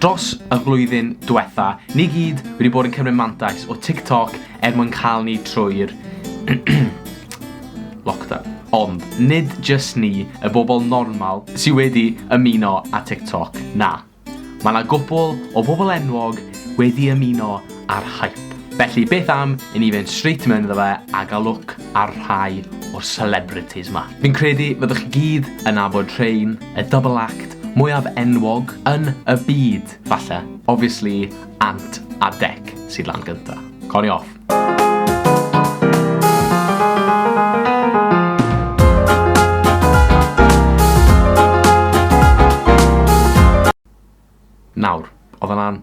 Dros y flwyddyn diwetha, ni gyd wedi bod yn cymryd mantais o TikTok er mwyn cael ni trwy'r lockdown. Ond, nid jyst ni, y bobl normal, sydd wedi ymuno â TikTok, na. Mae yna gwpl o bobl enwog wedi ymuno a'r hype. Felly beth am i ni fynd straight mewn iddo fe a gael look ar rhai o'r celebrities 'ma. Fi'n credu fyddwch chi gyd yn nabod rhein, y double act mwyaf enwog yn y byd, falle. Obviously, Ant a Dec sydd lan gynta. Cawn ni off. Nawr, oedd hwnna'n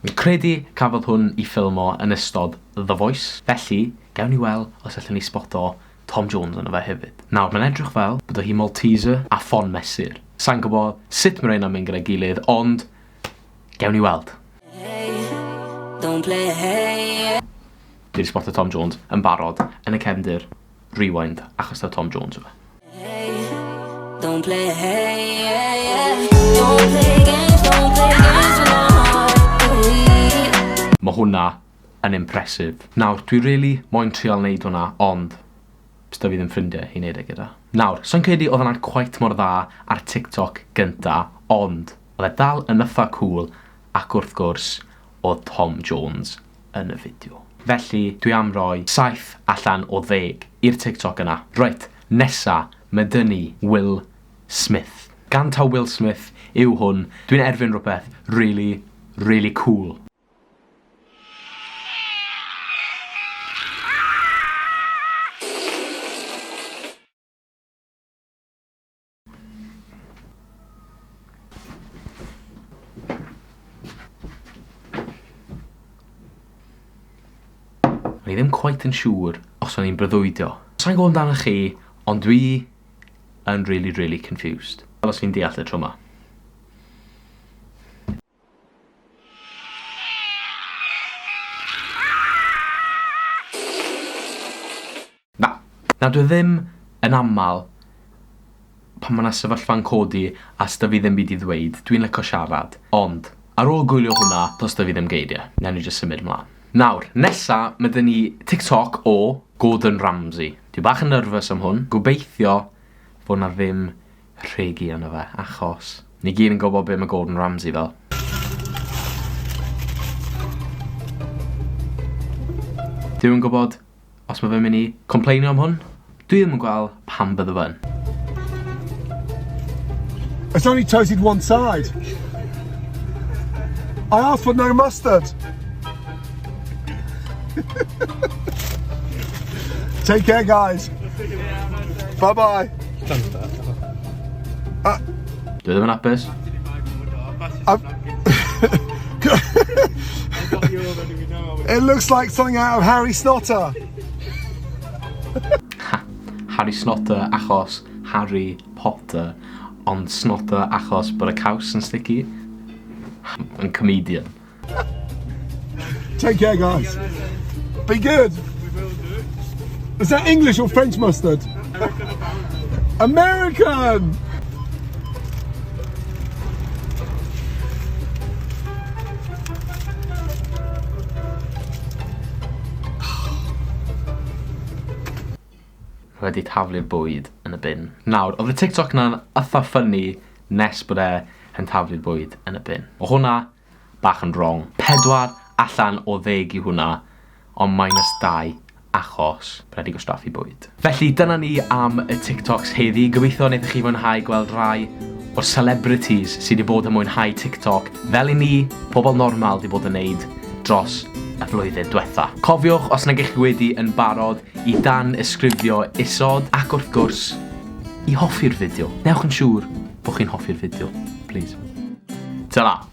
Fi'n credu cafodd hwn i ffilmo yn ystod The Voice, felly gawn ni wel os allen ni sboto Tom Jones yno fe hefyd. Nawr mae'n edrych fel bod o hi Malteser a ffon mesur. Sai'n gwbo sut ma reina'n mynd gyda'i gilydd ond gewn ni weld. Dwi 'di sboto Tom Jones yn barod yn y cefndir. Rewind, achos taw Tom Jones yw e. Don't play, hey, yeah, yeah. Don't play games, don't play games with my heart. Mae hwnna yn impressive. Nawr, dwi really moyn trial neud hwnna, ond bydd fi ddim ffrindiau i neud e gyda. Nawr, so'n credu oedd hwnna'n quite mor dda ar TikTok gynta, ond oedd e dal yn yffa cool, ac wrth gwrs, oedd Tom Jones yn y fideo. Felly, dwi am roi saith allan o ddeg i'r TikTok yna. Reit, nesa, ma dy ni Will Smith. Gan taw Will Smith yw hwn, dwi'n erfyn rwbeth rili, rili cŵl. O'n i ddim cweit yn siŵr os o'n i'n breuddwydio. Sa'n gwybod amdano chi, ond dwi yn really, really confused. Fel os fi'n deall y tro ma. Na, na dwi ddim, yn aml pan ma' 'na sefyllfa'n codi a sda fi ddim byd i ddweud, dwi'n lico siarad, ond ar ôl gwylio hwnna, does 'da fi ddim geirie, newn ni jyst symud mlan. Nawr, nesa ma' 'da ni TikTok o Gordon Ramsay. Dwi bach yn nervous am hwn, gobeithio fo' 'na ddim rhegi yno fe, achos. Ni gyd yn gwybod be mae Gordon Ramsay fel. Dwi yn gwybod os mae fe'n mynd i compleinio am hwn. Dwi ddim yn gweld pam bydde fe'n. It's only toasted one side. I asked for no mustard. Take care, guys. Bye bye. Ah. Dwi ddim yn apus. It looks like something out of Harry Snotter. Harry Snotter achos Harry Potter, ond Snotter achos bod y caws yn sticky. Yn comedian. Take care, guys. Be good. Is that English or French mustard? American! wedi taflu'r bwyd yn y bin. Nawr, oedd y TikTok na'n ytha ffynnu nes bod e yn taflu'r bwyd yn y bin. O hwnna, bach yn wrong. Pedwar allan o ddeg yw hwnna, ond minus dau achos bod e 'di gwastraffu bwyd. Felly dyna ni am y TikToks heddi, gobeithio wnaethoch chi fwynhau gweld rai o'r celebrities sy' 'di bod yn mwynhau TikTok fel i ni, pobl normal, 'di bod yn neud dros y flwyddyn dwetha. Cofiwch, os nag y'ch chi wedi yn barod, i dan-ysgrifio isod, ac wrth gwrs, i hoffi'r fideo. Newch yn siŵr bo' chi'n hoffi'r fideo, plîs. Tara!